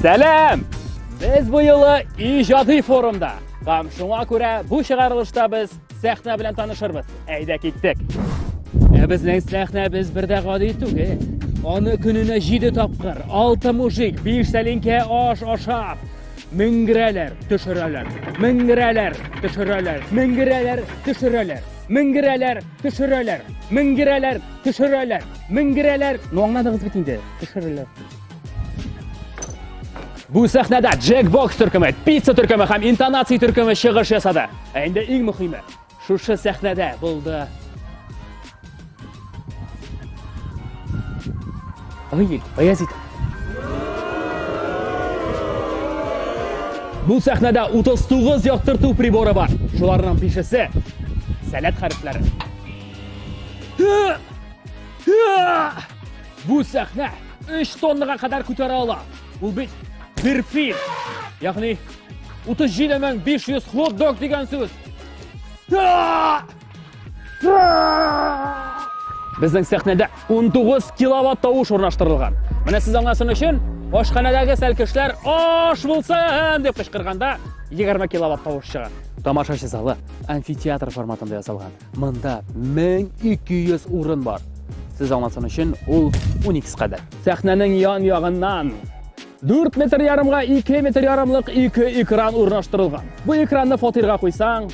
Сәлам! Без бу юлы иҗади форумда. Һәм шуңа күрә бу чыгарылышта без сәхнә белән танышырбыз. Әйдә киттек. Ә безнең сәхнә без бердә гади түгел. Аны көненә 7 тапкыр, 6 мужик, 5 сәлинкә аш ашап, меңгерәләр, төшерәләр, меңгерәләр, төшерәләр, меңгерәләр, төшерәләр, меңгерәләр, Төшерәләр, менгерәләр, төшерәләр, менгерәләр. Ну аңладыгыз бит инде. Төшерәләр. Бу сәхнәдә Джек Бокс төркеме, Пицца төркеме һәм Интонация төркеме чыгыш ясады. Ә инде иң мөһиме, шушы сәхнәдә булды Ой, Баязит. Бу сәхнәдә 39 яктырту приборы бар. Шуларның бишесе сәләт хәрефләре. Бу сәхнә 3 тоннага кадәр күтәрә ала. Ул бит бер фил. Ягъни 37500 хот-дог дигән сүз. Безнең сәхнәдә 19 киловатт тавыш урнаштырылган. Менә сез аңласын өчен, ашханәдәге сәлкешләр аш булсын дип кычкырганда 20 киловатт тавыш чыга. Тамашачы залы амфитеатр форматында ясалган. Монда 1200 урын бар. Сез аңласын өчен, ул 12 кадәр. Сәхнәнең ян-ягыннан Дүрт метр ярымга ике метр ярымлык ике экран урнаштырылган. Бу экранны фатирга куйсаң,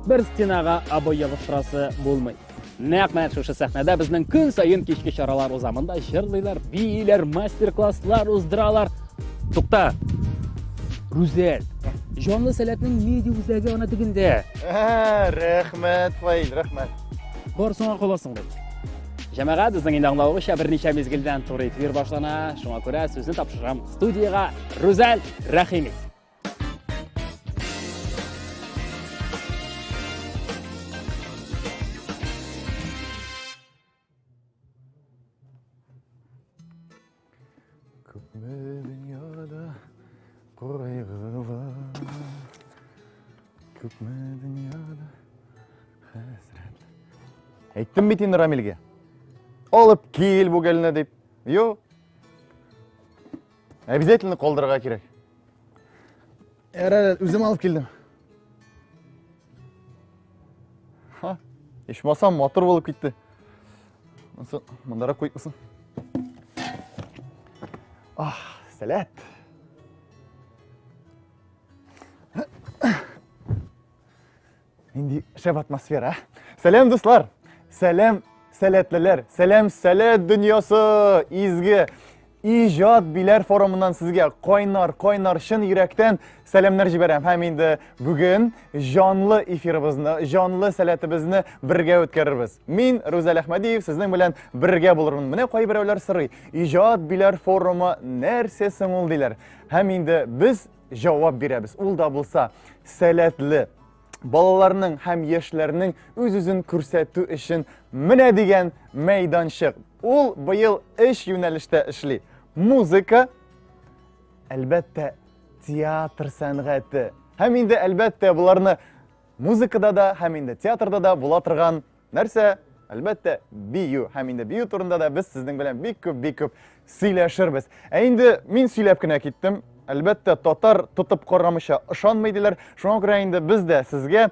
бер стенага обой ябыштырасы булмый. Нәкъ менә шушы сәхнәдә безнең көн саен кичке чаралар узамында җырлыйлар, бииләр, мастер-класслар уздыралар. Тукта! Рүзәл, җанлы сәләтнең меди үзәге ана тегендә. Рәхмәт, Фаил, рәхмәт. Барсыңа каласың бит. Җәмәгать, безнең инде аңлавыгызча берничә мизгелдән туры эфир башлана. Шуңа күрә сүзне тапшырам студиягә Рүзәл Рәхими. Күпме дөньяда кайгылар, күпме дөньяда хәсрәт. Әйттем бит инде Рамилгә. Алып кил бу гелне дип. Юк. Обязательно калдырырга кирәк. Ярар, үзем алып килдем. Ха, ишмасам мотор булып китте. Монсы мондарак куйып кусын. Ах, сәләт. Нинди шәп атмосфера. Сәлам, дуслар! Сәлам, сәләтлеләр! Сәлам, сәләт дөньясы! Изге иҗат биләр форумыннан сезгә кайнар, кайнар чын йөрәктән сәламнәр җибәрәм. Һәм инде бүген җанлы эфирыбызны, җанлы сәләтебезне бергә үткәрербез. Мин Рүзәл Әхмәдиев сезнең белән бергә булырмын. Менә кайберәүләр сорый, иҗат биләр форумы нәрсә соң ул диләр. Һәм инде без җавап бирәбез. Ул да булса сәләтле балаларның һәм яшьләрнең үз-үзен күрсәтү өчен менә дигән мәйданчык. Ул быел эш юнәлештә эшли. Музыка, әлбәттә, театр сәнгате. Һәм инде әлбәттә буларны музыкада да һәм инде театрда да була торган Нәрсә? Әлбәттә, бию. Һәм инде бию турында да без сезнең белән бик күп, бик күп сөйләшербез. Ә инде мин сөйләп кенә киттем. Әлбәттә, татар тотып карамыйча ышанмый диләр. Шуңа күрә инде без дә сезгә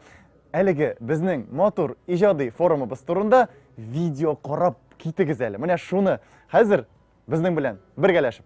әлеге безнең матур иҗади форумыбыз турында видео карап китегез әле. Менә шуны хәзер безнең белән бергәләшеп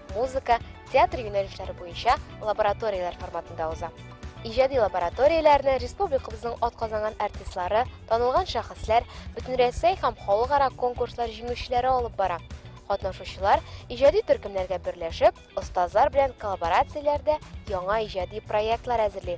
музыка, театр юнәлешләре буенча лабораторияләр форматында уза. Иҗади лабораторияләрне республикабызның атказанган артистлары, танылган шәхесләр, бөтенрәсәй һәм халыкара конкурслар җиңүчеләре алып бара. Катнашучылар иҗади төркемнәргә берләшеп, остазлар белән коллаборацияләрдә яңа иҗади проектлар әзерли.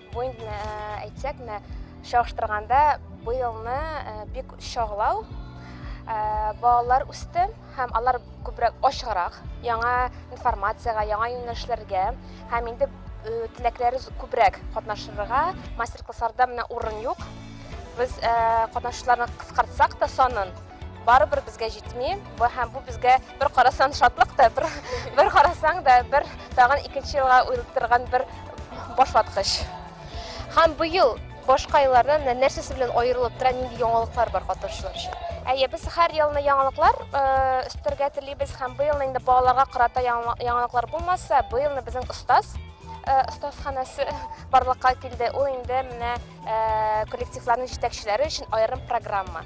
Бу инде э, әйтсәк, менә чагыштырганда быелны э, бик чаглау э, балалар үсте һәм алар күбрәк ачыграк яңа информациягә, яңа юнәлешләргә һәм инде э, теләкләре күбрәк катнашырга мастер-классларда менә урын юк. Без катнашучыларны кыскартсак та санын, барыбер безгә җитми бу һәм бу безгә бер карасаң шатлык та бер, бер карасаң да бер тагын икенче елга уйлаттырган бер башлаткыч һәм быел башка еллардан нәрсәсе белән аерылып тора нинди яңалыклар бар катнашучылар өчен әйе без һәр елны яңалыклар өстәргә телибез һәм быелны инде балаларга карата яңалыклар булмаса быелны безнең остаз остазханасы барлыкка килде ул инде менә коллективларның җитәкчеләре өчен аерым программа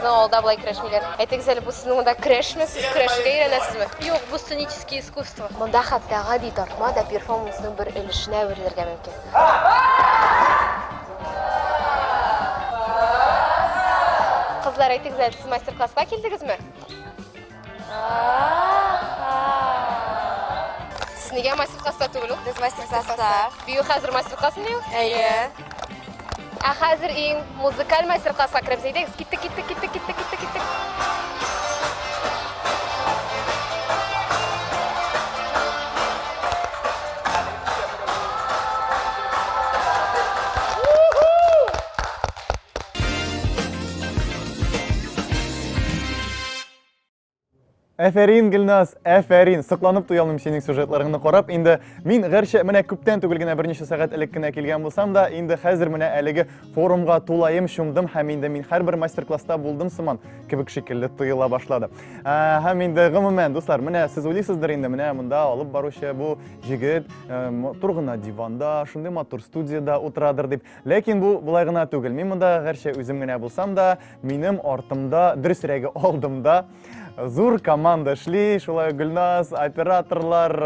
Безнең авылда болай көрәшмиләр. Әйтегез әле, бу сезнең монда көрәшме? Сез көрәшергә өйрәнәсезме? Юк, бу сценический искусство. Монда хәтта гади тартма да перформансның бер өлешенә әверелергә мөмкин. Кызлар, әйтегез әле, сез мастер-класска килдегезме? Сез нигә мастер класста түгел ул? Без мастер класста. Бию хәзер мастер класс бию? Әйе. Ә хәзер иң музыкаль мастер класска керәбез. Әйдәгез, киттек, киттек, киттек, киттек, киттек, киттек. Әфәрин, Гөлназ, әфәрин. Сыкланып туя алмыйм синең сюжетларыңны карап. Инде мин гәрчә менә күптән түгел генә берничә сәгать элек кенә килгән булсам да, инде хәзер менә әлеге форумга тулаем чумдым һәм инде мин һәрбер мастер-класста булдым сыман кебек шикелле тоела башлады. Ә, һәм инде гомумән, дуслар, менә сез уйлыйсыздыр инде, менә монда алып баручы бу җегет ә, матур гына диванда, шундый матур студияда утырадыр дип. Ләкин бу болай гына түгел. Мин монда гәрчә үзем генә булсам да, Минем артымда, дөресрәге алдымда зур команда эшли. Шулай Гөлназ, операторлар,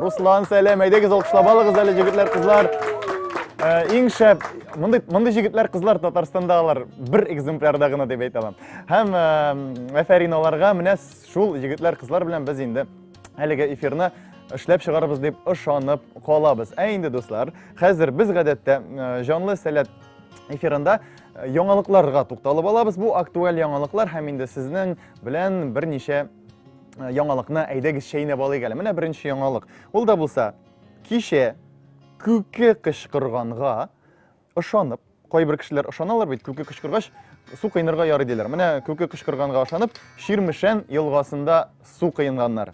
Руслан сәлем. Әйдәгез алкышлап алыгыз әле җегетләр, кызлар. Э, иң шәп мондый мондый җегетләр кызлар татарстанда алар бер экземплярда гына дип әйтә алам һәм э, афәрин аларга менә шул егетләр кызлар белән без инде әлеге эфирны эшләп чыгарбыз дип ышанып калабыз ә инде дуслар хәзер без гадәттә э, җанлы сәләт эфирында Яңалыкларга тукталып алабыз. Бу актуаль яңалыклар һәм инде сезнең белән берничә э, яңалыкны әйдәгез чәйнәп алыйк әле. Менә беренче яңалык. Ул да булса, кичә күке кычкырганга ышанып, кайбер кешеләр ышаналар бит, күке кычкыргач су кыйнырга ярый диләр. Менә күке кычкырганга ышанып, Ширмешән елгасында су кыйнганнар.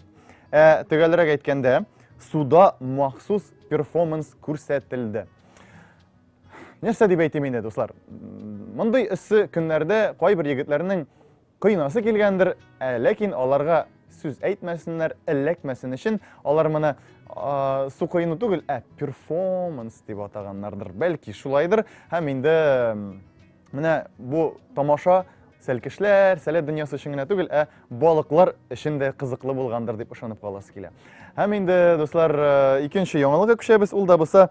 Ә төгәлрәк әйткәндә, суда махсус перформанс күрсәтелде. нәрсә дип әйтим инде дуслар мондый эссе көннәрдә кайбер егетләрнең кыйнасы килгәндер ә, ләкин аларга сүз әйтмәсеннәр эләкмәсен өчен алар моны су коену түгел ә перформанс дип атаганнардыр бәлки шулайдыр һәм инде Менә бу тамаша сәлкешләр, сәләт дөньясы өчен генә түгел, ә балыклар өчен дә кызыклы булгандыр дип ышанып каласы килә. Һәм инде, дуслар, э, икенче яңалыгы күчәбез, ул да булса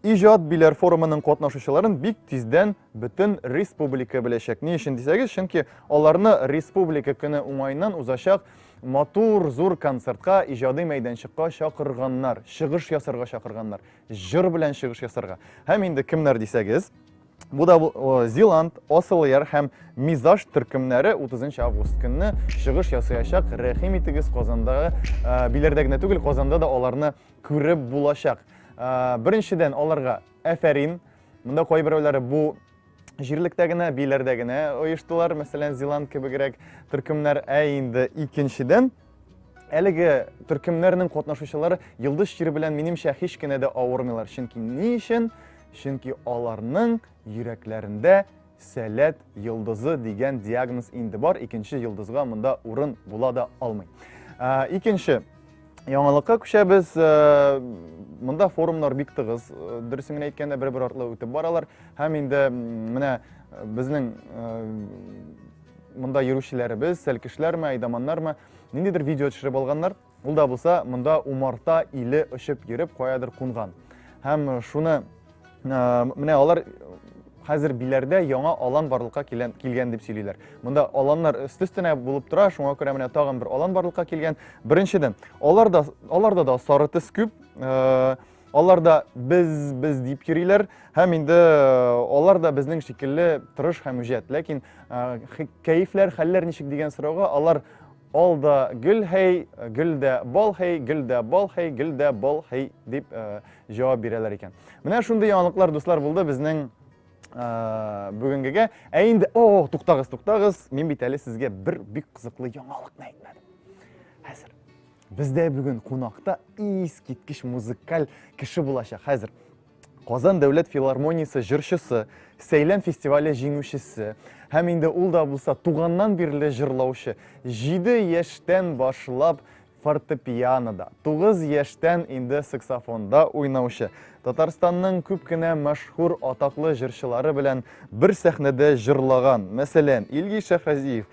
Иҗат биләр форумының катнашучыларын бик тиздән бөтен республика беләчәк. Ни өчен дисәгез, чөнки аларны республика көне уңайыннан узачак матур зур концертка, иҗади мәйданчыкка чакырганнар, чыгыш ясарга чакырганнар, җыр белән чыгыш ясарга. Һәм инде кемнәр дисәгез, Бу да Зиланд, Осылыяр һәм Мизаж төркемнәре 30 август көнне чыгыш ясаячак. Рәхим итегез Казандагы, э, биләрдә генә түгел, Казанда да аларны күреп булачак. Э, беренчедән аларга әфәрин. Монда кайберәүләре бу җирлектә генә, биләрдә генә оештылар, мәсәлән, Зиланд кебегрәк төркемнәр. Ә инде икенчедән Әлеге төркемнәрнең катнашучылары Йылдыз чир белән минемчә һич кенә дә авырмыйлар. Чөнки ни өчен? Чөнки аларның йөрәкләрендә сәләт йылдызы дигән диагноз инде бар. Икенче йылдызга монда урын була да алмый. Ә, икенче яңалыкка күчәбез. Ә, монда форумнар бик тыгыз, э, дөресен генә әйткәндә, бер-бер артлы үтеп баралар. Һәм инде менә безнең э, Монда йөрүчеләребез, сәлкешләрме, айдаманнармы, ниндидер видео төшереп алганнар. Ул да булса, монда умарта иле очып йөреп каядыр кунган. Һәм шуны менә алар хәзер биләрдә яңа алан барлыкка килгән, килгән дип сөйлиләр. Монда аланнар өст-өстенә булып тора, шуңа күрә менә тагын бер алан барлыкка килгән. Беренчедән, аларда аларда да сары төс күп. Алар да без, без дип йөриләр, һәм инде алар да безнең шикелле тырыш һәм үҗәт. Ләкин кәефләр, хәлләр ничек дигән сорауга алар ал да гөл һәй, гөл дә бал һәй, гөл дә бал һәй, гөл дә бал һәй дип җавап бирәләр икән. Менә шундый яңалыклар, дуслар, булды безнең бүгенгегә. Ә инде, о, туктагыз, туктагыз, мин бит әле сезгә бер бик кызыклы яңалыкны әйтмәдем. Хәзер Бездә бүген кунакта искиткеч музыкаль кеше булачак. Хәзер Казан дәүләт филармониясе җырчысы, Сәйлән фестивале җиңүчесе һәм инде ул да булса туганнан бирле җырлаучы. 7 яшьтән башлап фортепианода, 9 яшьтән инде саксофонда уйнаучы. Татарстанның күп кенә мәшһүр атаклы җырчылары белән бер сәхнәдә җырлаган. Мәсәлән, Илгиз Шәхразиев,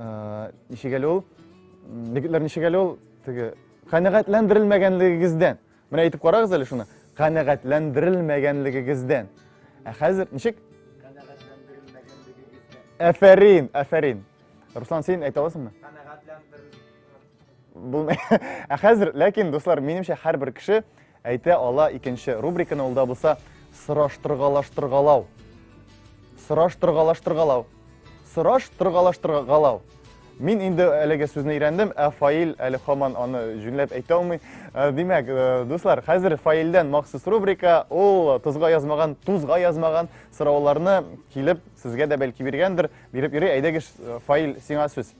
Э, ничек әле ул егетләр ничек әле ул теге канәгатьләндерелмәгәнлегегездән менә әйтеп карагыз әле шуны канәгатьләндерелмәгәнлегегездән ә хәзер ничек афәрин афәрин руслан син әйтә аласыңмы Булмый. Ә хәзер, ләкин, дуслар, минемчә һәрбер кеше әйтә ала икенче рубриканы ул да булса сораштыргалаштыргалау. Сораштыргалаштыргалау. Сораштыргалаштыргалау. Мин инде әлеге сүзне өйрәндем, ә фаил әле хаман аны җүнләп әйтә алмый. Э, димәк, э, дуслар, хәзер фаилдән махсус рубрика, ул тузга язмаган, тузга язмаган сорауларны килеп сезгә дә бәлки биргәндер, биреп йөри, әйдәгез э, фаил сиңа сүз.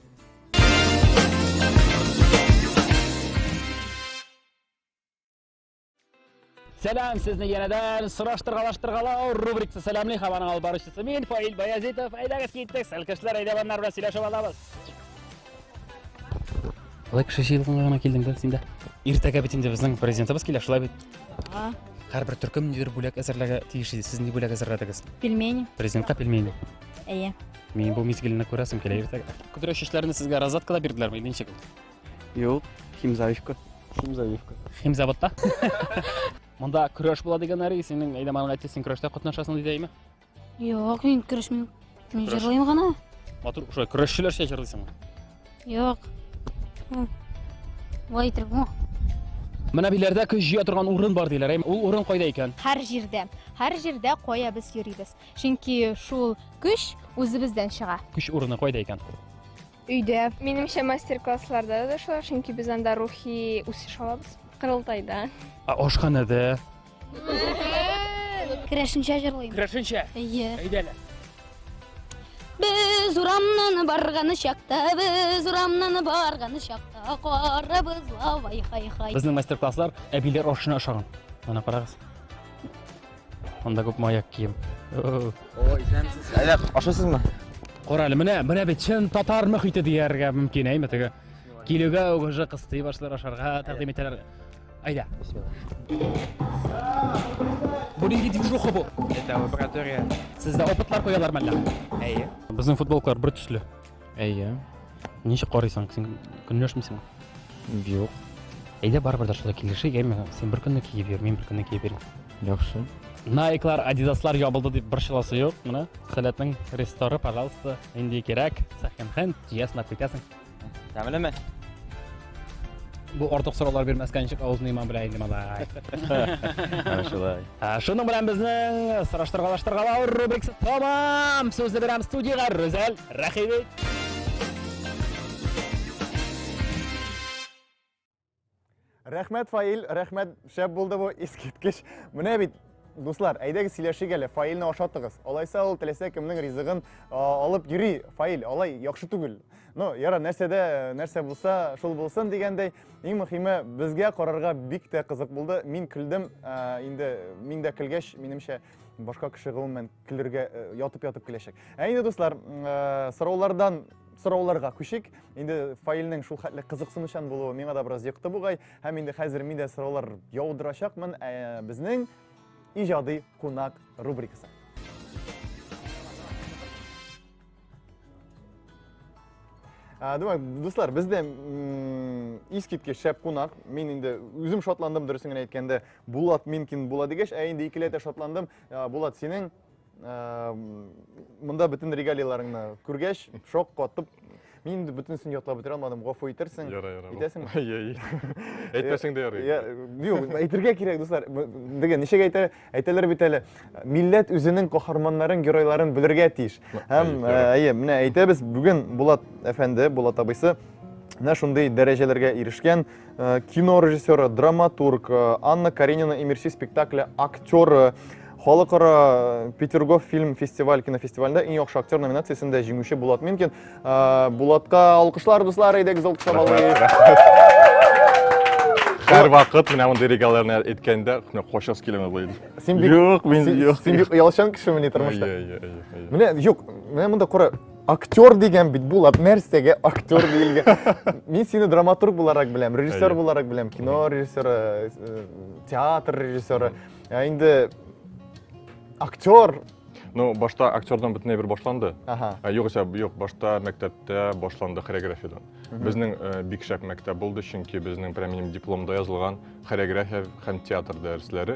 Сәлам сезне янәдән сораштыргалаштыргалау рубрикасы сәламли һәм аның алып баручысы мин Фаил Баязитов. Әйдәгез киттек, сәлкешләр әйдә баннар белән сөйләшеп алабыз. Алай кеше җыелганга гына килдем дә син дә. Иртәгә бит инде безнең президентыбыз килә, шулай бит. Ага. Һәрбер төркем нидер бүләк әзерләргә тиеш иде. Сез ни бүләк әзерләдегез? Пельмени. Президентка пельмени. Әйе. Мин бу мизгелне күрәсем килә иртәгә. Көдрә чәчләрне сезгә розаткада бирделәрме или ничек? Юк, химзавивка. Химзавивка. Химзаводта? Монда көрәш була дигән Ари, синең әйдә маңа әйтте, син көрәштә катнашасың диде әйме? Юк, мин көрәшмим. Мин Көрәш. җырлыйм гына. Матур, шулай көрәшчеләрчә җырлыйсыңмы? Юк. М. Болай итеп бу. Менә биләрдә көч җыя торган урын бар диләр. әйме? Ул урын кайда икән? Һәр җирдә, һәр җирдә кая без йөрибез. Чөнки шул көч үзебездән чыга. Көч урыны кайда икән? Өйдә. Минемчә мастер-классларда да шулай, чөнки без анда рухи үсеш алабыз. Кырылтайда. Ә ашханәдә? Керәшенчә җырлыйм. Керәшенчә. Әйе. Әйдәле. Без урамнан барган чакта, без урамнан барган чакта, карабыз лавай хай-хай. Безнең мастер-класслар әбиләр ашына ошаган. Ана карагыз. Анда күпме аяк кием. О, исәнмесез. Әллә ашасызмы? Кара әле, менә, менә бит чын татар мөхите дияргә мөмкин, әйме теге. Килүгә үгеже кыстый башлар ашарга тәкъдим итәләр. Әйдә. Бу нинди движуха бу? Это лаборатория. Сездә опытлар куялар мәллә? Әйе. Безнең футболкалар бер төсле. Әйе. Ничек карыйсың? Син көнләшмисең? Юк. Әйдә барыбер дә шулай килешик, әйме? Син бер көнне киеп йөр, мин бер көнне киеп йөрим. Яхшы. Найклар, Адидаслар ябылды дип борчыласы юк. Менә Сәләтнең ресторы, пожалуйста, инде кирәк. Сәхенхен, җыясың, китәсең. Тәмлеме? Бу артык сораулар бирмәскә ничек авызны имам белә инде малай. Менә шулай. Ә, Шуның белән безнең сораштыргалаштыргалау рубрикасы тәмам. Сүзне бирәм студиягә Рүзәл Рәхиби. Рәхмәт, Фаил, рәхмәт, шәп булды бу, искиткеч. Менә бит, Дуслар, әйдәгез сөйләшик әле, фаилне ашатыгыз. Алайса ул теләсә кемнең ризыгын алып йөри, фаил, алай яхшы түгел. Ну, яра, нәрсәдә, нәрсә булса, шул булсын дигәндәй, иң мөхиме безгә карарга бик тә кызык булды. Мин көлдем, инде мин дә көлгәч, минемчә, башка кеше гомумән килергә э, ятып ятып киләчәк ә инде дуслар э, сораулардан сорауларга күшик инде фаилнең шул хәтле кызыксынучан булуы миңа да бераз йокты бугай һәм инде хәзер мин дә сораулар яудырачакмын ә безнең иҗади кунак рубрикасы Думаю, дуслар, бездә искиткеч шәп кунак. Мин инде үзем шатландым, дөресен генә әйткәндә, Булат Минкин була дигәч, ә инде икеләтә шатландым. Булат, синең монда бөтен регалияләреңне күргәч, шок катып, мин инде бөтенесен ятлап бетерә алмадым, гафу итәрсең. Ярый, ярый. Әйтәсең? Әй, әйтмәсәң дә ярый. Юк, әйтергә кирәк, дуслар. Диге, ничек әйтә, әйтәләр бит әле. Милләт үзенең каһарманнарын, геройларын белергә тиеш. Һәм, әйе, менә әйтәбез, бүген Булат әфәнде, Булат абыйсы менә шундый дәрәҗәләргә ирешкән. Э, кино режиссеры, драматург э, Анна Каренина имерси спектакле актеры халыкара э, петергоф фильм фестиваль кинофестивалендә иң яхшы актер номинациясендә җиңүче булат минкин булатка алкышлар дуслар әйдәгез алкышлап алыйк һәр вакыт менә мондый регаларны әйткәндә менә качасы килә менә булай син бик юк мин юк син бик оялчан кешеме ни тормышта менә юк менә монда кара Актер дигән бит Булат, нәрсәгә актер диелгән? Мин сине драматург буларак беләм, режиссер буларак беләм, кино режиссеры, э, театр режиссеры. Ә инде актер Ну, башта актердан бөтенләй бер башланды. Ага. Ә, югыйсә, юк, башта мәктәптә башланды хореографиядан. Безнең э, бик шәп мәктәп булды, чөнки безнең прям минем дипломда язылган хореография һәм театр дәресләре.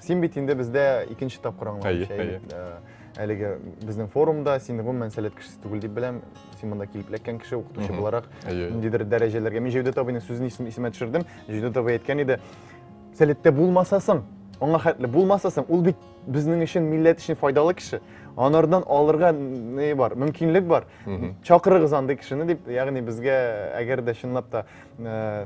Син бит инде бездә икенче тапкыр аңлавымча. Әйе, әйе. Әлеге безнең форумда син гомумән сәләт кешесе түгел дип беләм. Син монда килеп эләккән кеше, укытучы буларак ниндидер дәрәҗәләргә. Мин Җәүдәт абыйның сүзен исемә төшердем. Җәүдәт абый әйткән иде, сәләттә булмасасың, аңа хәтле булмасасың, ул бит безнең өчен милләт өчен файдалы кеше. Анардан алырга не бар, мөмкинлек бар. Чакырыгыз андый кешене дип, ягъни безгә әгәр дә чынлап та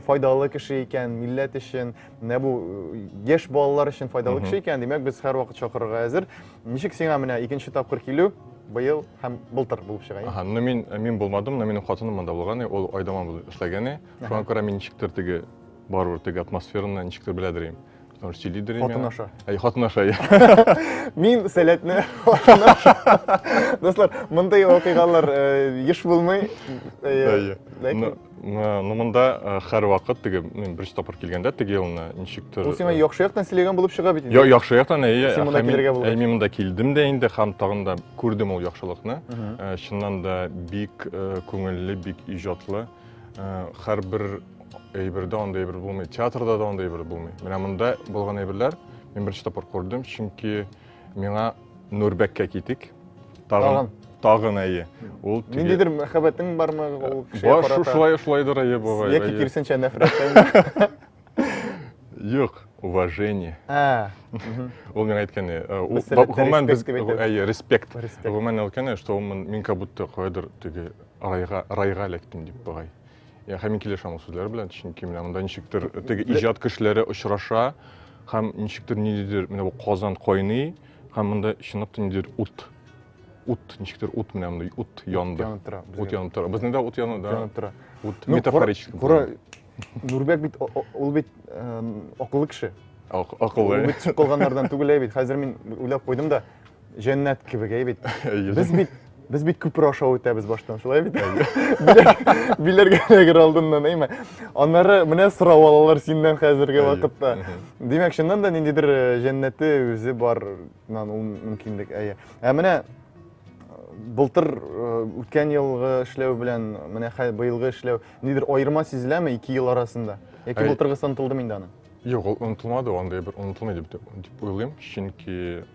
файдалы кеше икән, милләт өчен, менә бу э, яшь балалар өчен файдалы кеше икән, димәк, без һәрвакыт чакырырга әзер. Ничек сиңа менә икенче тапкыр килү быел һәм былтыр булып чыга? Аһа, ну мин э, мин булмадым, но минем хатыным монда булган, ул Айдаман булып эшләгән. Шуңа күрә мин ничектер теге барыбер теге атмосфераны ничектер беләдер инде. Потому что сөйли дөрим. Хатын аша. Әй, хатын аша. Мин сәләтне хатын аша. Дуслар, мондый вакыйгалар э, еш булмый. Э, Ну, ну монда э, һәрвакыт теге мин беренче тапкыр килгәндә теге елны ничектер. Ул сиңа э, яхшы яктан сөйләгән булып чыга бит инде. Я, яхшы яктан, әйе. Син монда килергә булгач. Мин монда килдем дә инде һәм тагын да күрдем ул яхшылыкны. Э, чыннан да бик күңелле, бик иҗатлы. Һәр бер әйбердә анда әйбер булмый. Театрда да анда әйбер булмый. Менә монда булган әйберләр мин беренче тапкыр күрдем, чөнки Миңа Нурбәккә китик. Тагын. Тагын әйе. Ул тиге... Ниндидер мәхәббәтең бармы ул кешегә карата? Бар, шулай, шулайдыр әйе бабай. Яки кирсенчә нәфрәттән. Юк, уважение. А. Ул миңа әйткәне, гомумән без әйе, респект. Гомумән әйткәне, что мин как будто кайдыр теге райга, райга эләктем дип бабай. Я һәм мин килешәм ул сүзләр белән, чөнки менә монда ничектер теге иҗат кешеләре очраша һәм ничектер ниндидер менә бу Казан кайный һәм монда чынлап та ниндидер ут ут ничектер ут менә монда ут янды. Янып тора. Ут янып тора. Безнең дә ут яна, да. Янып тора. Ут ну, метафорически. Кура, Нурбек бит ул бит акыллы кеше. Акыллы. Ул бит калганнардан түгел бит. Хәзер мин уйлап куйдым да Җәннәт кебек, әй бит. Без бит без бит күпер аша үтәбез баштан, шулай бит? Биләргә генә алдыннан, әйме? Аннары менә сорау алалар синнән хәзерге вакытта. Димәк, чыннан да ниндидер э, җәннәте үзе бар, ул мөмкинлек, әйе. Ә менә былтыр үткән елгы эшләү белән менә быелгы эшләү нидер аерма сизеләме ике ел арасында яки былтыргысы онытылдымы инде аны юк ул онытылмады андай бер онытылмый дип дип уйлыйм чөнки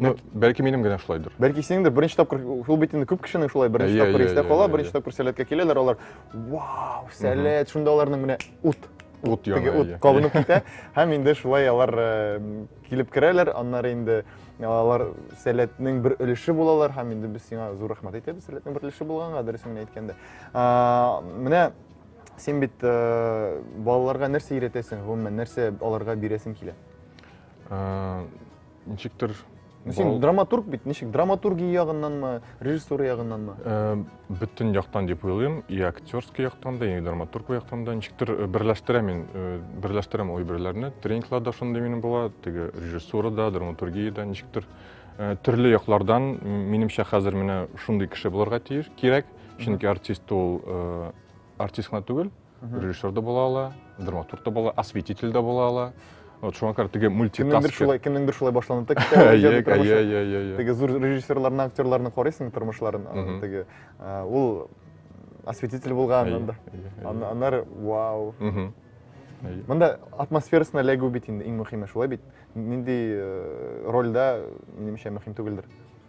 Ну, бәлки минем генә шулайдыр. Бәлки синең дә беренче тапкыр ул бит инде күп кешенең шулай беренче yeah, тапкыр yeah, истә yeah, кала, yeah, беренче yeah. тапкыр сәләткә киләләр, алар вау, сәләт, шунда аларның менә ут ут яна, ут кабынып китә һәм инде шулай алар килеп керәләр, аннары инде алар сәләтнең бер өлеше булалар һәм инде без сиңа зур рәхмәт әйтәбез сәләтнең бер өлеше булганга, дөресен генә әйткәндә. Менә син бит балаларга нәрсә өйрәтәсең, гомумән нәрсә аларга бирәсең килә? ничектер сен драматург бит ничек драматургия ягыннан ма режиссура ягыннан ма э, бөтен яктан дип уйлыйм и актерский яктан да и драматург яктан да ничектер э, берләштерә мин э, берләштерәм ул әйберләрне тренингларда шундый минем була теге режиссурада драматургиядә ничектер төрле яклардан минемчә хәзер менә шундый кеше булырга тиеш кирәк чөнки артист ул артист кына түгел режиссер да була ала драматург да була осветитель да була ала вот шуңа күрә теге мультитаскер шулай кемнеңдер шулай башланып та китә теге зур режиссерларны актерларны карыйсың тормышларын теге ул осветитель булган анда аннары вау мында атмосферасына эләгү бит инде иң мөһиме шулай бит нинди рольдә минемчә мөһим түгелдер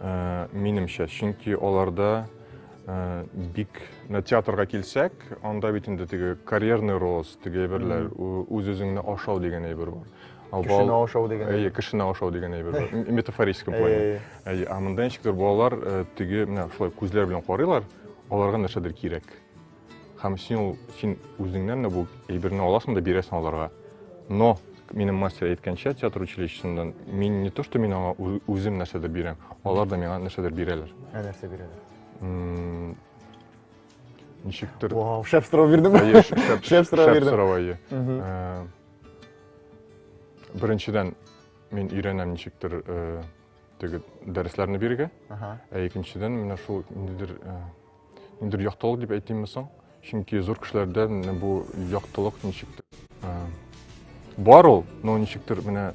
Э, минемчә, чөнки аларда э, бик на театрга килсәк, анда бит инде теге карьерный рост, теге әйберләр, үз үзеңне ашау дигән әйбер бар. Кешене ашау дигән. Әйе, кешене ашау дигән әйбер бар. Метафорическом плане. Әйе, ә монда ничектер балалар э, теге менә шулай күзләр белән карыйлар, аларга нәрсәдер кирәк. Һәм син ул син үзеңнән дә бу әйберне аласың да бирәсең аларга. Но минем мастер әйткәнчә театр училищесыннан мин не то что мин аңа үзем нәрсәдер бирәм, алар да миңа нәрсәдер бирәләр. Ә нәрсә бирәләр? Ничектер. Вау, шәп сорау бирдем. Әйе, шәп, шәп сорау бирдем. Шәп сорау, әйе. Э, Беренчедән мин өйрәнәм ничектер э, теге дәресләрне бирергә. Ә икенчедән менә шул ниндидер э, Ниндидер яктылык дип әйтимме соң? Чөнки зур кешеләрдән менә бу яктылык ничектер ә, бар ул, но ничектер менә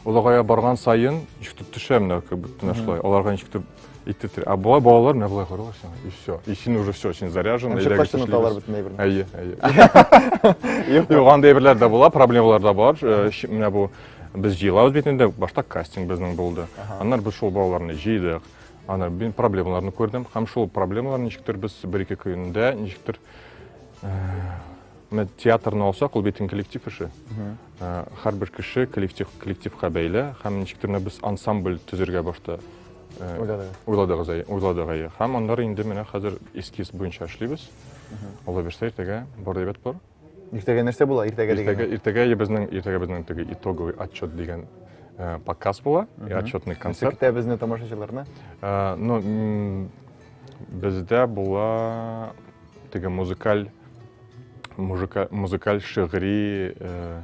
олыгая барган сайын ничектер төшә менә кебек менә шулай. Аларга ничектер итте. А болай балалар менә болай карыйлар сиңа и все. И син уже все, син заряжен. Ничек качтын аталар бөтен әйберне. Әйе, әйе. Юк, андый әйберләр дә була, проблемалар да бар. Э, менә бу без җыелабыз бит инде, башта кастинг безнең булды. Аннар без шул балаларны җыйдык. Аны мин проблемаларны күрдем һәм шул проблемалар ничектер без бер-ике көндә ничектер Менә театрны алсак, ул бит коллектив эше. Һәрбер кеше коллектив коллективка бәйле һәм ничектер без ансамбль төзергә башта уйладыгыз уйладык әйе. Һәм аннары инде менә хәзер эскиз буенча эшлибез. Алла бирсә, иртәгә бар дибет бар. Иртәгә нәрсә була? Иртәгә дигән. Иртәгә иртәгә безнең иртәгә безнең теге итоговый отчет дигән э, показ була, отчетный концерт. Көтә безне тамашачыларны. Э, ну, бездә була теге музыкаль музыкаль шигъри э,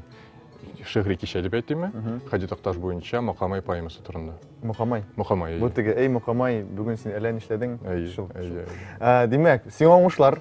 шигъри кичә дип әйтимме хади такташ буенча мокамай поэмасы турында мокамай мокамай бу теге эй мокамай бүгін сен әллә нишләдең әйе әйе димәк сиңа уңышлар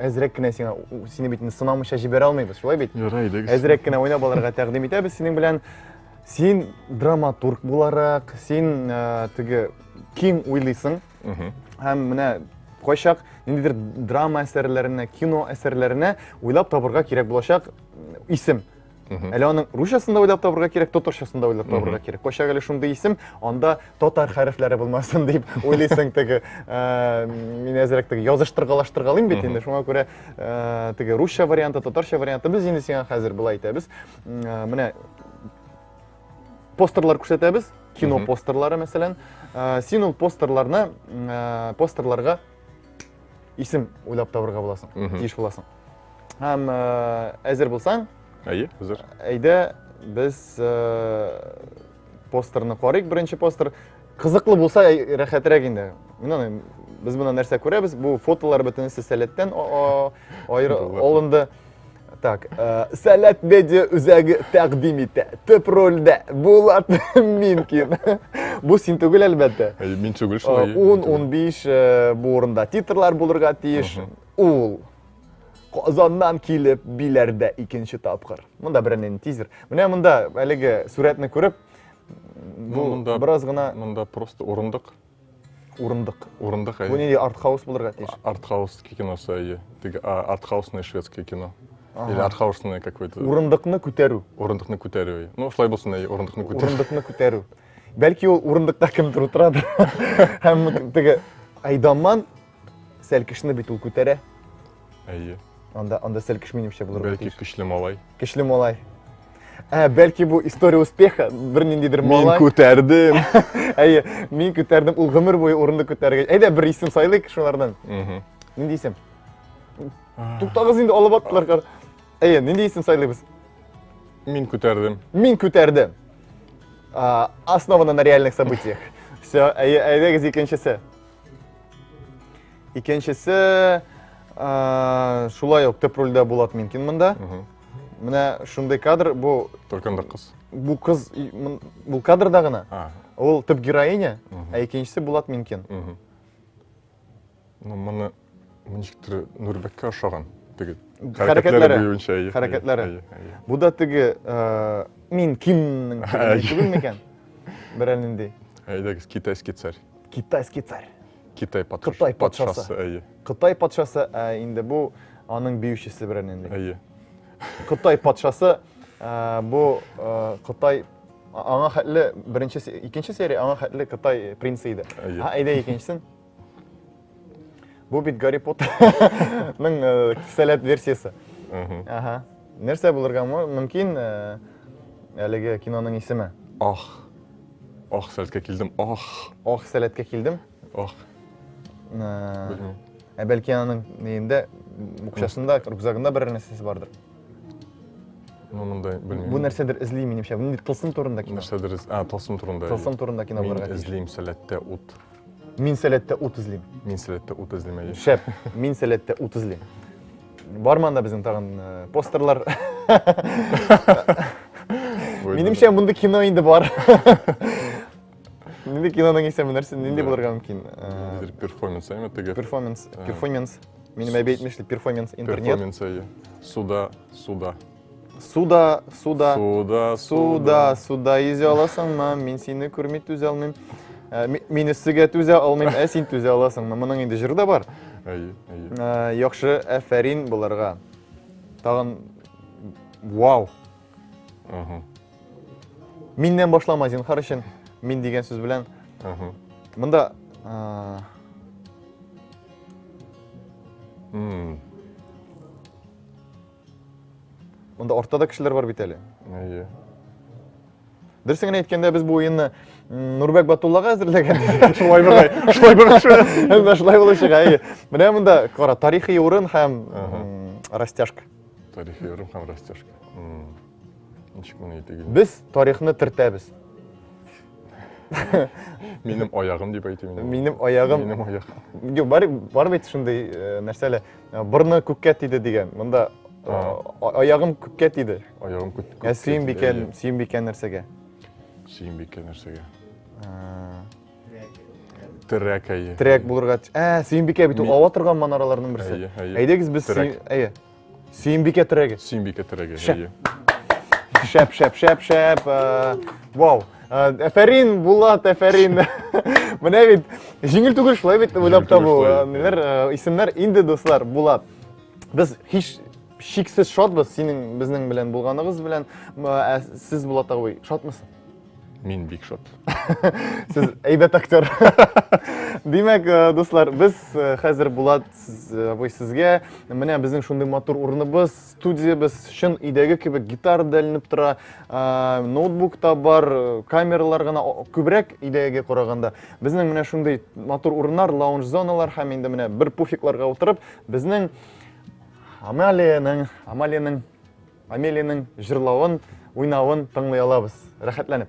әзрәк кенә сиңа сине бит инде сынамыйча җибәрә алмыйбыз шулай бит ярый әйдәгез әзрәк кенә уйнап алырга тәкъдим итәбез синең белән син драматург буларак син ә, теге киң уйлыйсың һәм менә кайчак ниндидер драма әсәрләренә кино әсәрләренә уйлап табырга кирәк булачак исем Әле аның русчасын да уйлап табырга кирәк, татарчасын да уйлап табырга кирәк. Кайчак әле шундый исем, анда татар хәрефләре булмасын дип уйлыйсың теге. Э, мин әзрәк теге языштыргалаштыргалыйм бит инде. Шуңа күрә э, теге русча варианты, татарча варианты без инде сиңа хәзер былай әйтәбез. Э, менә постерлар күрсәтәбез, кино постерлары мәсәлән. Син ул постерларны, постерларга исем уйлап табырга буласың тиеш буласың һәм әзер булсаң әйе әзер әйдә без постерны карыйк беренче постер кызыклы булса рәхәтрәк инде менә без монда нәрсә күрәбез бу фотолар бөтенесе сәләттән алынды Так, э, Сәләт медиа үзәге тәкъдим итә. Төп рольдә Булат Минкин. Бу син түгел әлбәттә. Э, мин түгел шулай. 10-15 э, э, бу урында титрлар булырга тиеш. Ул Казаннан килеп биләрдә икенче тапкыр. Монда беренен тизер. Менә монда әлеге сурәтне күреп, бу ну, бераз гына монда просто урындык Урындык. Урындык, әйе. Бу нинди артхаус булырга тиеш? Артхаус киносы, әйе. Теге артхаусный шведский кино. Или артхаусный какой-то. Урындыкны күтәрү. Урындыкны күтәрү, әйе. Ну, шулай булсын, әйе, урындыкны күтәрү. Урындыкны күтәрү. Бәлки ул урындыкта кемдер утырадыр. Һәм теге Айдаман Сәлкешне бит ул күтәрә. Әйе. Анда анда сәлкеш минемчә булыр. Бәлки көчле малай. Көчле малай. Ә, бәлки бу история успеха бер ниндидер малай. Мин күтәрдем. Әйе, мин күтәрдем. Ул гомер буе урынды күтәргән. Әйдә бер исем сайлыйк шулардан. Угу. Нинди исем? Туктагыз инде алып аттылар. Әйе, нинди исем сайлыйбыз? Мин күтәрдем. Мин күтәрдем. Основана на реальных событиях. Все, әйдәгез икенчесе. Икенчесе шулай ук төп рольдә Булат Минкин монда. Менә шундый кадр, бу Төркемдә кыз. Бу кыз бу кадрда гына. Ул төп героиня, ә икенчесе Булат Минкин. Ну, моны ничектер Нурбеккә ошаган теге хәрәкәтләре буенча. Хәрәкәтләре. Бу да теге Минкинның түгелме икән? Берәр нинди. Әйдәгез, китайский царь. Китайский царь. Китай патшасы. Кытай патшасы, әйе. Кытай патшасы, ә инде бу аның биючесе белән инде. Әйе. Кытай патшасы ә, бу ә, Кытай аңа хәтле беренче икенче серия аңа хәтле Кытай принцы иде. Әйе. Ә әйдә икенчесен. Бу бит Гарри Поттерның кисәләт версиясе. Ага. Нәрсә булырга мөмкин әлеге киноның исеме? Ах. Ах, сәләткә килдем. Ах. Ах, сәләткә килдем. Ах. Белмим. Ә бәлки аның нигендә букчасында, рюкзагында бер нәрсәсе бардыр. Ну, мондай белмим. Бу нәрсәдер эзли минемчә. Бу тылсым турында кино. Нәрсәдер эз... А, тылсым турында. Тылсым турында кино булырга. Мин эзлим сәләттә ут. Мин сәләттә ут эзлим. Мин сәләттә ут эзлим. Шәп. Мин сәләттә ут эзлим. Бар манда безнең тагын э, постерлар. Минемчә монда кино инде бар. Нинди киноның исеме нәрсә? Нинди булырга мөмкин? Э, перформанс, әйме теге. Перформанс, э. перформанс. Минем әби әйтмешли, перформанс интернет. Перформанс, әйе. Суда, суда. Суда, суда. Суда, суда. Суда йөзә аласыңмы? Мин сине күрми түзә алмыйм. Ә, ми- Мин өссегә түзә алмыйм, ә син түзә аласыңмы? Моның инде җыры да бар. Әйе, әйе. Ә, Яхшы, әфәрин боларга. Тагын вау. Аһа, Миннән башлама зинхар өчен. Мин дигән сүз белән. аһа. Монда ә, М. Монда артта да кешеләр бар бит әле. Әйе. Дөресен генә әйткәндә, без бу уенны Нурбәк Батуллага әзерләгән. Шулай була. Шулай була. Әмма шулай булачак, әйе. Менә монда кара, тарихи урын һәм растяжка. Тарихи урын һәм растяжка. Ничек моны әйтегез? Без тарихны тертәбез. Минем аягым дип әйтим. Минем аягым. Минем аягым. Юк, бар бар бит шундый нәрсәләр. Борны күккә тиде дигән. Монда аягым күккә тиде. Аягым күккә. Ә Сөембикә, Сөембикә нәрсәгә? Сөембикә нәрсәгә? Терәк, әйе. Терәк булырга. Ә, Сөембикә бит ул ава торган манараларның берсе. Әйе, әйе. Әйдәгез без әйе. Сөембикә терәге. Сөембикә терәге, әйе. Шәп, шәп, шәп, шәп. Вау. Әфәрин, Булат, әфәрин. Менә бит җиңел түгел шулай бит уйлап табу. Ниләр исемнәр инде дуслар, Булат. Без һич шиксез шатбыз синең безнең белән булганыгыз белән. Ә сез Булат абый шатмысыз? Мин бик шат. Сез әйбәт актер. Димәк, дуслар, без хәзер Булат абый сезгә менә безнең шундый матур урыныбыз Студиябез чын өйдәге кебек гитара да эленеп тора, ноутбук та бар, камералар гына күбрәк өйдәгегә караганда. Безнең менә шундый матур урыннар, лаунж зоналар һәм инде менә бер пуфикларга утырып, безнең Амалиянең, Амалиянең, Амелиянең җырлавын, уйнавын тыңлый алабыз. Рәхәтләнеп.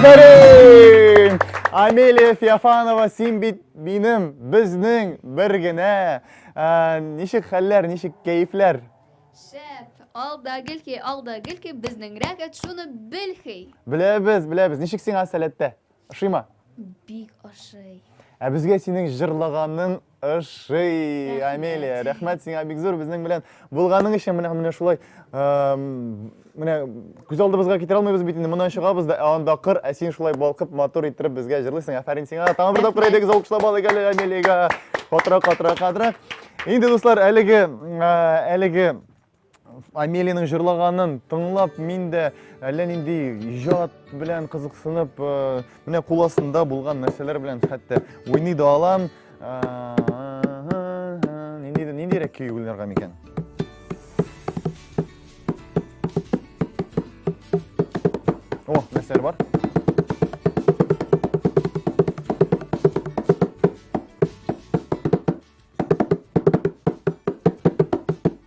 Афәрин! Амелия Феофанова, син бит минем, безнең бер генә. Ә, Ничек хәлләр, ничек кәефләр? Шәп, алда гелки, алда гелки, безнең рәгәт шуны белхи. Беләбез, беләбез. Ничек сиңа сәләттә? Ошыймы? Бик ошый. Ә безгә синең җырлаганың ошый, Амелия. Рәхмәт сиңа бик зур безнең белән булганың өчен. Менә менә шулай менә күз алдыбызга китерә алмыйбыз бит инде. Моннан чыгабыз да, ә анда кыр, ә син шулай балкып, матур иттереп безгә җырлыйсың. Афәрин сиңа. Тагын бер тапкыр әйдәгез алкышлап алыйк әле Амелиягә. Катырак, катырак, катырак. Инде дуслар, әлеге әлеге Амелиның җырлаганын тыңлап, мин дә әллә нинди иҗат белән кызыксынып, э, менә кул астында булган нәрсәләр белән хәтта уйный да алам. Нинди ниндирәк көй уйнарга микән? О, нәрсәләр бар?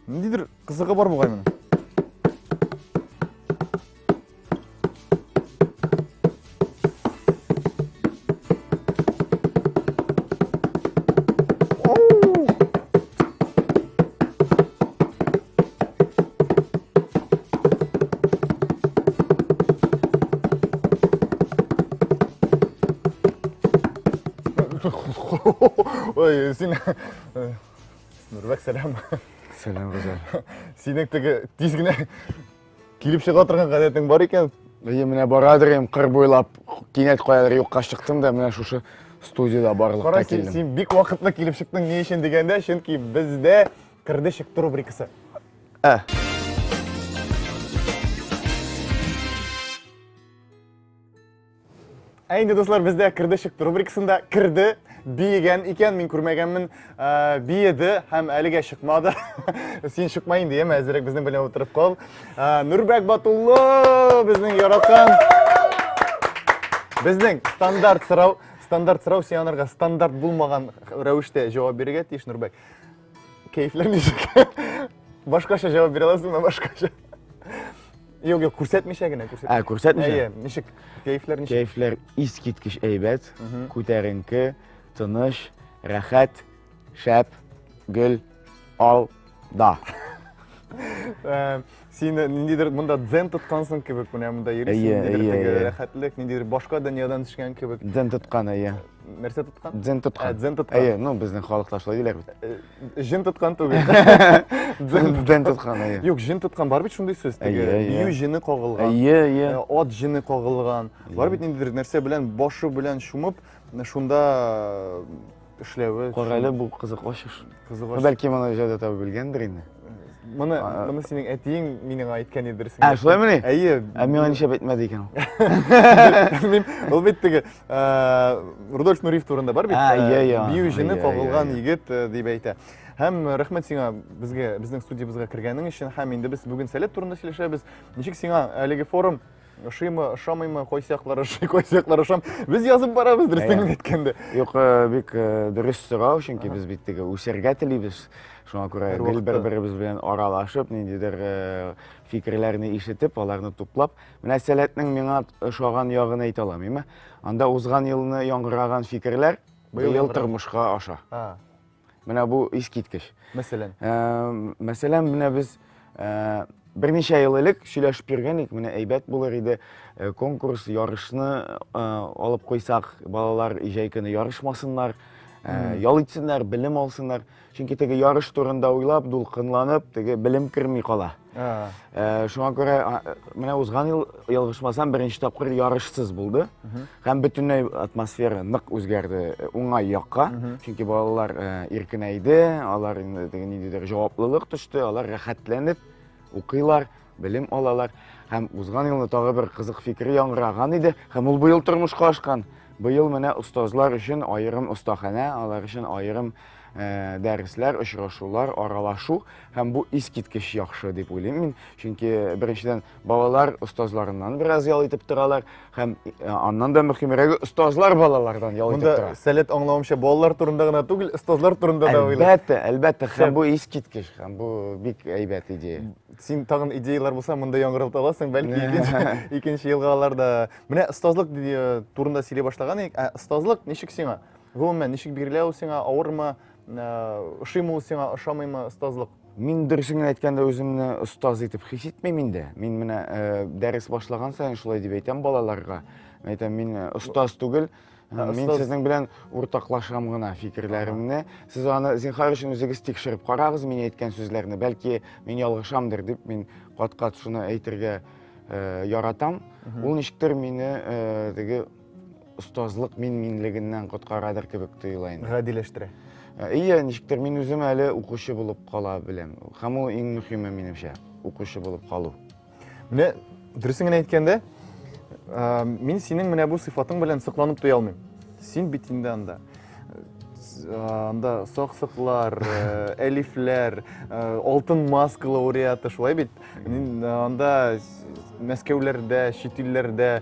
Ниндидер кызыгы бар бугай моның. ой сен нұрбек сәлем сәлем ғазал сенің тігі тез кенә килеп чыга торган гадәтең бар икән Әйе, менә барадыр ем кыр буйлап, кинәт каядыр юкка чыктым да, менә шушы студияда барлыкка килдем. Кара, син бик вакытлы килеп чыктың, ни өчен дигәндә, чөнки бездә Кырды чыкты рубрикасы. Ә. Ә инде дуслар, бездә кырды чыкты рубрикасында кырды биеген икән, мин күрмәгәнмен, ә, биеде һәм әлегә чыкмады. Син чыкма инде, яме, әзерәк безнең белән утырып кал. Ә, Нурбәк Батуллы безнең яраткан безнең стандарт сорау, стандарт сорау сианырга стандарт булмаган рәвештә җавап бирергә тиеш Нурбәк. Кәефләмичек. Башкача җавап бирә аласың да башкача. Юк, юк, күрсәтмичә генә, күрсәтмичә. Ә, күрсәтмичә? Әйе, ничек? Кәефләр ничек? Кәефләр искиткеч әйбәт, күтәренке, тыныш, рәхәт, шәп, гөл, ал, да. Э, Син ниндидер монда дзен тоткансың кебек, менә монда йөрисең, ниндидер теге рәхәтлек, ниндидер башка дөньядан төшкән кебек. Дзен тоткан, әйе. Нәрсә тоткан? Дзен тоткан. Ә, дзен тоткан. Әйе, ну безнең халыкта шулай диләр бит. Э, җен тоткан түгел. Дзен тоткан, әйе. Юк, җен тоткан бар бит шундый сүз, теге бию җене кагылган. Әйе, әйе. Э, ат җене кагылган. Бар бит ниндидер нәрсә белән башы белән шумып, шунда эшләве. Кара әле бу кызык ачыш. Кызык ачыш. Бәлки моны җәдә табып белгәндер инде. Моны, моны синең әтиең минең әйткән иде дөресен. Ә, шулай мени? Әйе. Ә миңа ничә әйтмәде икән ул? Ул бит теге Рудольф Нуриев турында бар бит. Ә, иә, иә. Бию җене кагылган егет дип әйтә. Һәм рәхмәт сиңа безгә, безнең студиябезгә кергәнең өчен. Һәм инде без бүген сәләт турында сөйләшәбез. Ничек сиңа әлеге форум? ошыймы ошамыймы кайсы яклар ошый кайсы яклар ошам без язып барабыз дөрестен генә әйткәндә юк э, бик э, дөрес сорау чөнки без бит теге үсәргә телибез шуңа күрә гел бер беребез белән аралашып ниндидер э, фикерләрне ишетеп аларны туплап менә сәләтнең миңа ошаган ягын әйтә аламыйм анда узган елны яңгыраган фикерләр быел тормышка аша Менә бу искиткеч. Мәсәлән? Ә, мәсәлән, менә без ә, берничә ел элек сөйләшеп йөргән идек, менә әйбәт булыр иде э, конкурс, ярышны ә, алып куйсак, балалар җәй көне ярышмасыннар, ә, ял итсеннәр, белем алсыннар. Чөнки теге ярыш турында уйлап, дулкынланып, теге белем керми кала. Ә, шуңа күрә менә узган ел ялгышмасам беренче тапкыр ярышсыз булды һәм бөтенләй атмосфера нык үзгәрде э, уңай якка чөнки балалар э, иркенәйде алар инде теге ниндидер җаваплылык төште алар рәхәтләнеп укыйлар белем алалар һәм узган елны тагы бер кызык фикер яңгыраган иде һәм ул быел тормышка ашкан быел менә остазлар өчен аерым остаханә алар өчен аерым Э, дәресләр, очрашулар, аралашу һәм бу искиткеч яхшы дип уйлыйм мин. Чөнки беренчедән балалар остазларыннан бераз ял итеп торалар һәм э, аннан да мөхимрәге остазлар балалардан ял итеп тора. Монда сәләт аңлавымча балалар турында гына түгел, остазлар турында да уйлый. Әлбәттә, әлбәттә, һәм бу искиткеч, һәм бу бик әйбәт идея. Син тагын идеялар булса, монда яңгырып аласың, бәлки икенче елга аларда. Менә остазлык э, турында сөйли башлаган идек. Ә остазлык ничек сиңа? Гомумән, ничек бирелә ул сиңа, авырмы, ә, ошыймы ул сиңа, ошамыймы остазлык? Мин дөресен генә әйткәндә үземне остаз итеп хис итмим инде. Мин менә э, дәрес башлаган саен шулай дип әйтәм балаларга. Мин әйтәм, мин э, остаз түгел, Ә, Э, мин остаз- сезнең белән уртаклашам гына фикерләремне. Сез аны зинхар өчен үзегез тикшереп карагыз мин әйткән сүзләрне. Бәлки мин ялгышамдыр дип мин кат-кат шуны әйтергә э, яратам. Ул ничектер мине э, теге остазлык мин-минлегеннән коткарадыр кебек тоела инде. Гадиләштерә. Э, Ие, ничектер мин үзем әле укучы булып кала беләм. Һәм ул иң мөһиме минемчә, укучы булып калу. Менә дөресен генә әйткәндә, э, мин синең менә бу сыйфатың белән сокланып туя алмыйм. Син бит инде анда э, анда саксыклар, э, әлифләр, э, алтын маскалы уриаты шулай бит. Мин э, анда с- Мәскәүләрдә, чит илләрдә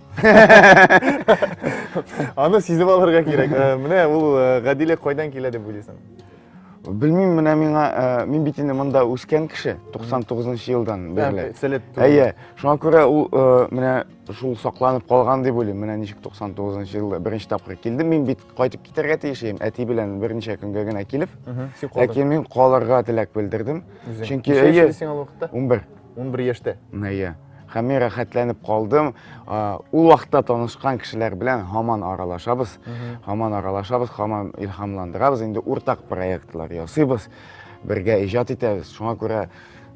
Аны сизеп алырга кирәк. Э, менә ул э, гадилек кайдан килә дип уйлыйсың? Белмим, менә миңа, э, мин бит инде монда үскән кеше, 99 елдан бирле. Сәләт түгел. Әйе, шуңа күрә ул менә шул сакланып калган дип уйлыйм. Менә ничек 99 елда беренче тапкыр килдем. Мин бит кайтып китәргә тиеш идем, әти белән берничә көнгә генә килеп. Ләкин мин калырга теләк белдердем. Чөнки әйе. 11. 11 яшьтә. Әйе. Һәм мин рәхәтләнеп калдым. Ул вакытта танышкан кешеләр белән һаман аралашабыз, һаман аралашабыз, һаман илһамландырабыз. Инде уртак проектлар ясыйбыз, бергә иҗат итәбез. Шуңа күрә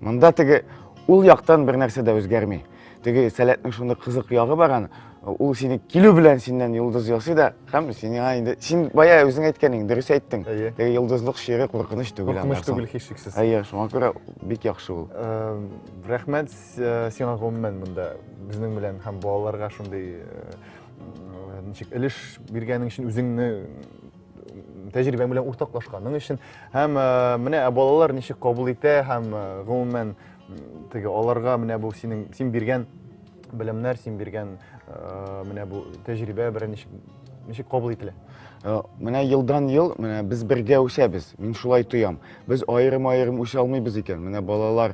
монда теге ул яктан бер нәрсә дә үзгәрми. Теге сәләтнең шундый кызык ягы бар аны, ул сине килү белән синнән йолдыз ясый да һәм сиңа инде син бая үзең әйткән идең дөрес әйттең теге йолдызлык шигырь куркыныч түгел куркыныч түгел һичшиксез әйе шуңа күрә бик яхшы ул рәхмәт сиңа гомумән монда безнең белән һәм балаларга шундый ничек өлеш биргәнең өчен үзеңне тәҗрибәң белән уртаклашканың өчен һәм менә балалар ничек кабул итә һәм гомумән теге аларга менә бу синең син биргән белемнәр син биргән менә бу тәҗрибә бер ничек ничек кабул ителә Э, менә елдан ел менә без бергә үсәбез мин шулай тоям без аерым аерым үсә алмыйбыз икән менә балалар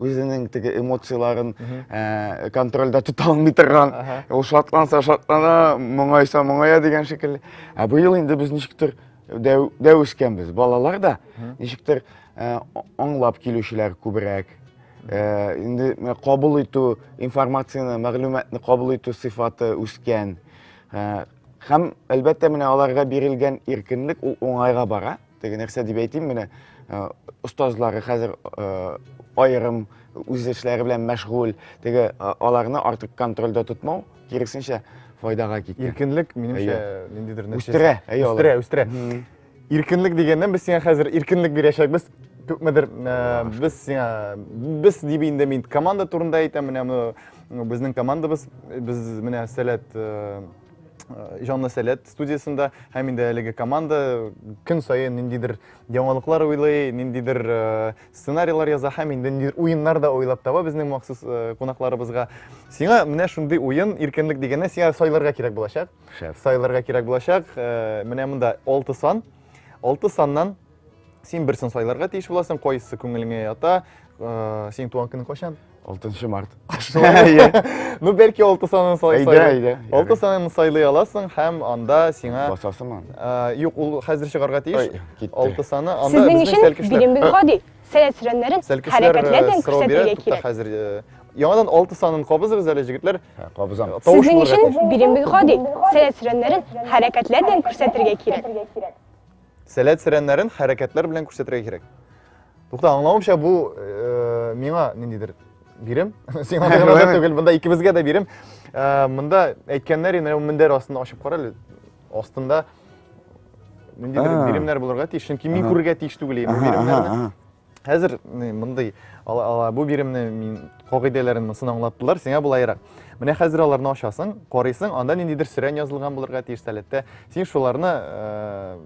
үзенең теге эмоцияләрен э, контрольдә тота алмый торган ул шатланса шатлана моңайса моңая дигән шикелле ә быел инде без ничектер дәү, дәү үскәнбез балалар да ничектер э, аңлап килүчеләр күбрәк э, инде кабул итү информацияне мәгълүматны кабул итү сыйфаты үскән һәм әлбәттә менә аларга бирелгән иркенлек ул уңайга бара Теге нәрсә дип әйтим, менә остазлары хәзер аерым үз эшләре белән мәшгуль, теге аларны артык контрольдә тотмау, киресенчә файдага киткән. Иркенлек, минемчә, ниндидер нәрсә. Үстерә, әйе, үстерә, үстерә. Иркенлек дигәннән без сиңа хәзер иркенлек бирәчәкбез. Күпмедер без сиңа без дип инде мин команда турында әйтәм, менә безнең командабыз, без менә сәләт Җанлы сәләт студиясендә һәм инде әлеге команда көн саен ниндидер яңалыклар уйлый, ниндидер сценарийлар яза һәм инде ниндидер уеннар да уйлап таба безнең махсус кунакларыбызга. Сиңа менә шундый уен иркенлек дигәннән сиңа сайларга кирәк булачак. Сайларга кирәк булачак. Менә монда 6 сан. 6 саннан Син берсен сайларга тиеш буласың, кайсы күңелеңә ята. Э, синең туган көнең кайчан? 6 март. Ну, бәлки 6 санын сайлый. Әйдә, әйдә. 6 санын сайлый аласың һәм анда сиңа Басасыңмы? Э, юк, ул хәзер чыгарга тиеш. 6 саны анда Сезнең өчен билембез гади. Сәләт сүрәннәрен хәрәкәтләр белән күрсәтергә кирәк. Хәзер яңадан 6 санын кабызыгыз әле җегетләр. Һә, кабызам. Сезнең өчен билембез гади. Сәләт сүрәннәрен хәрәкәтләр белән күрсәтергә кирәк. Сәләт сәрәннәрен хәрәкәтләр белән күрсәтергә кирәк. Тукта, аңлавымча бу э, миңа ниндидер бирем. Сиңа да гына түгел, монда икебезгә дә бирем. Э, монда әйткәннәр инде мендәр астында ачып кара әле. Астында ниндидер биремнәр булырга тиеш, чөнки мин күрергә тиеш түгел инде биремнәрне. Хәзер мондый бу биремне мин кагыйдәләрен монысын аңлаттылар, сиңа булайрак. Менә хәзер аларны ачасың, карыйсың, анда ниндидер сөрән язылган булырга тиеш сәләттә. Син шуларны э,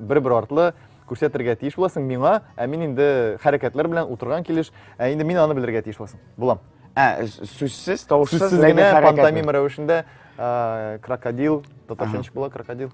бер-бер артлы күрсәтергә тиеш буласың миңа, ә мин инде хәрәкәтләр белән утырган килеш, ә инде мин аны белергә тиеш буласың. Булам. Ә, сүзсез, тавышсыз, ләкин хәрәкәтле. Пантомим рәвешендә э, крокодил, татарча була крокодил?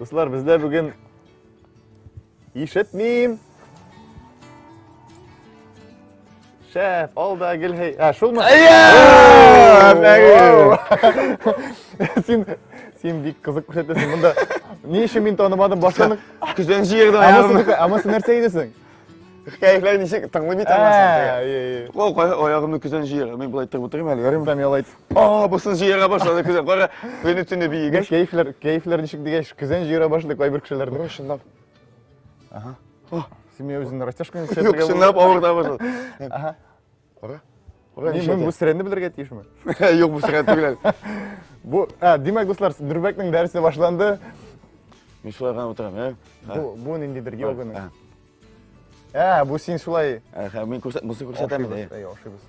Дуслар, бездә бүген ишетмим. Шәф, алда гелһей. Ә, шулмы? Син син бик кызык күрсәтәсең. Монда ни өчен мин танымадым башланып? Көзән җыердан Ә монысы нәрсә идесең? Хикәяләр ничек тыңлый бит аннан Кол кая аягымны көзән җыера. Мин болай тырып утырыйм әле, ярыйм. Там ялайт. А, бусын җыера башлады көзән. Кара, көне төне биегәч. Кәефләр, кәефләр ничек дигәч, көзән җыера башлады кайбер кешеләрдә. Бу чынлап. Ага. Син үзеңне растяжканы чәчәргә. Юк, чынлап авырта башлады. Ага. Кара. Кара ничә. Мин бу сирәне белергә тиешме? Юк, бу сирән түгел. Бу, а, димәк, дуслар, Дүрбәкнең дәресе башланды. Мин шулай гына утырам, ә? Бу, бу ниндидер йоганың. Ә, бу син шулай. Ә, мин күрсәт, бусы күрсәтәм. Ошибыз, ошибыз.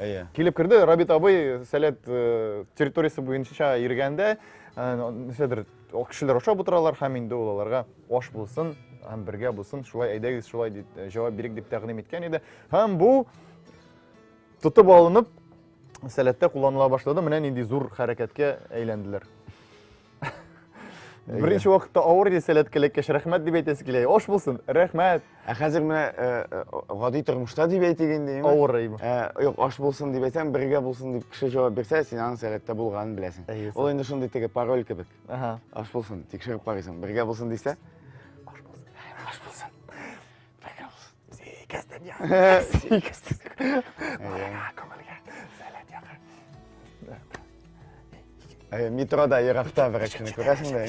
Әйе. Килеп керде, Рабит абый сәләт э, территориясе буенча йөргәндә, э, нәрсәдер кешеләр ашап утыралар һәм инде ул аларга аш булсын һәм бергә булсын, шулай әйдәгез, шулай дип э, җавап бирик дип тәкъдим иткән иде. Һәм бу тотып алынып сәләттә кулланыла башлады. Менә нинди зур хәрәкәткә әйләнделәр. Беренче вакытта авыр иде сәләт кәләкәш, рәхмәт дип әйтәсе килә. Ош булсын, рәхмәт. Ә хәзер менә э, э, гади тормышта дип әйтик инде. Авыр әйбә. Э, юк, аш булсын дип әйтсәң, бергә булсын дип кеше җавап бирсә, син аның сәләттә булганын беләсең. Ул инде шундый теге пароль кебек. Аш булсын, тикшереп карыйсың. Бергә булсын дисә, метрода еракта бер кешене күрәсең дә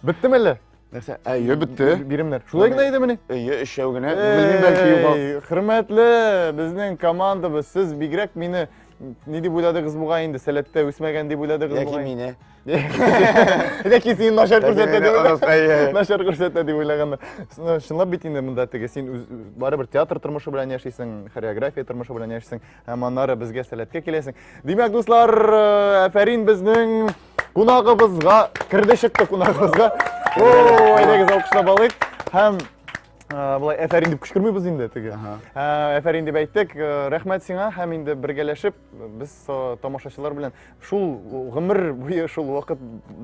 беттеме әллә нәрсә әйе бетте биремнәр шулай гына иде мени әйе өчәү генә белмим бәлки югал хөрмәтле безнең командабыз сез бигрәк мине ни дип уйладыгыз бугай инде сәләттә үсмәгән дип уйладыгыз яки мине Ләкин син начар күрсәтә дип. Начар күрсәтә дип уйлаганнар. Чынлап бит инде монда теге син барыбер театр тормышы белән яшисең, хореография тормышы белән яшисең, һәм аннары безгә сәләткә киләсең. Димәк, дуслар, әфәрин безнең кунагыбызга, керде чыкты кунагыбызга. О, әйдәгез алкышлап алыйк. Һәм былай әфәрин дип кычкырмыйбыз инде теге. Әфәрин дип әйттек. Рәхмәт сиңа һәм инде бергәләшеп Без тамашачылар белән шул гомер буе шул вакыт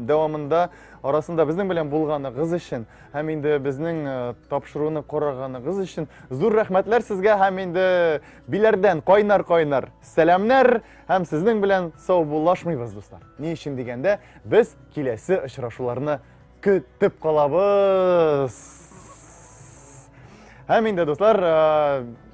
дәвамында арасында безнең белән булганыгыз өчен һәм инде безнең тапшыруны караганыгыз өчен зур рәхмәтләр сезгә һәм инде биләрдән кайнар-кайнар сәламнәр һәм сезнең белән сау булашмыйбыз, дуслар. Ни өчен дигәндә, без киләсе очрашуларны көтеп калабыз. Һәм инде, дуслар,